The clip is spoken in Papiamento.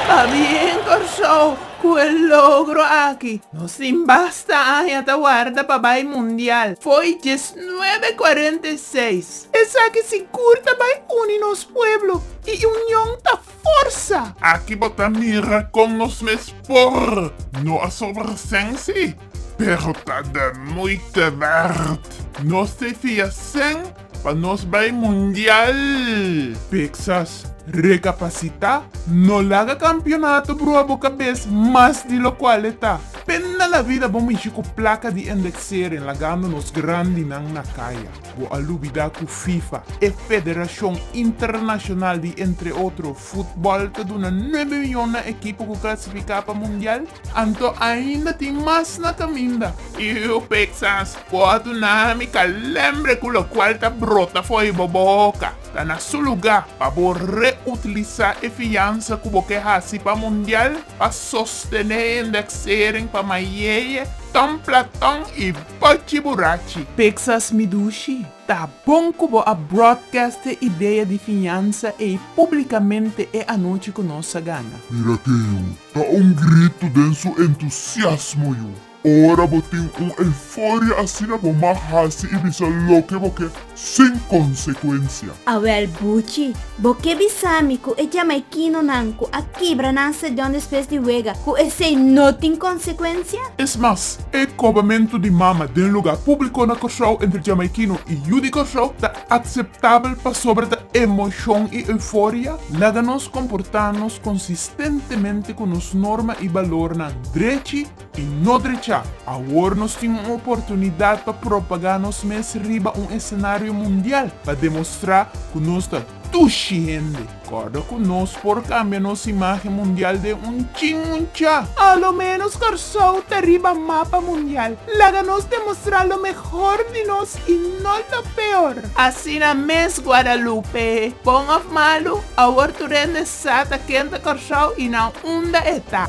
Pa bien Kòrsou ku e logro aki. No sin basta aña ta warda pa bai mundial, Foy dies nuebe kuarenta i seis. Esaki sigur ta bai uni nos pueblo i union ta. Forsa! Aki bo ta mira con nos mes por no a sobra sensi, pero ta de moite werd. Nos te fia sen pa nos bay mundial! Pixas, Recapacita, no laga campeonato brua bo cabes mas di locual e ta. Pena la vida bo mishi cu placa di endexeren lagando nos grandinan na caya. Bo a lubida cu Fifa, e federacion internacional di, entre otro, futbol ta duna nuebe miyon na ekipo cu clasifica pa mundial? Anto ainda tin mas na caminda. Iu Pixas, bo a duna mi calembre cu locual ta brota fo'i bo boca. Ta na su luga pa bo reutiliza e fiansa cu bo ke haci pa mundial pa sostene e indexering pa mayeie, ton platon y. Pachi burachi. Pixas mi dushi, ta bon ku bo a broadcast e idea di fiñansa ei públikamente e anochi ku nos a gana. Mira ke yu ta un gritu den su entusiasmo yu. Ora bo tin un euforia asina bo mag hasi i bisa loke bo ke. sin consecuencia. Awel Buchi, bo ke bisami ku e jamaikinonan ku a kibra nan stadion despues di wega ku esei no tin consecuencia? Es mas, e kobamentu di mama den luga públiko na Kòrsou entre jamaikino i yu di Kòrsou ta akseptabel pasobra ta emoshon i euforia? Laga nos komportá nos konsistentemente ku nos norma i balornan drechi. E no drecha, awor nos tin un oportunidad pa propagá nos mes riba un escenario mundial, pa demostrá cu nos ta tushi hende. Corda cu nos por cambia nos imagen mundial den un chin muncha. A lo menos Corsou ta riba mapa mundial. Laga nos demostrá lo mehor di nos y no lo peor. Asina mes Guadalupe. Bon of malu, awor tur hende sa ta ken ta Corsou y nan unda e ta.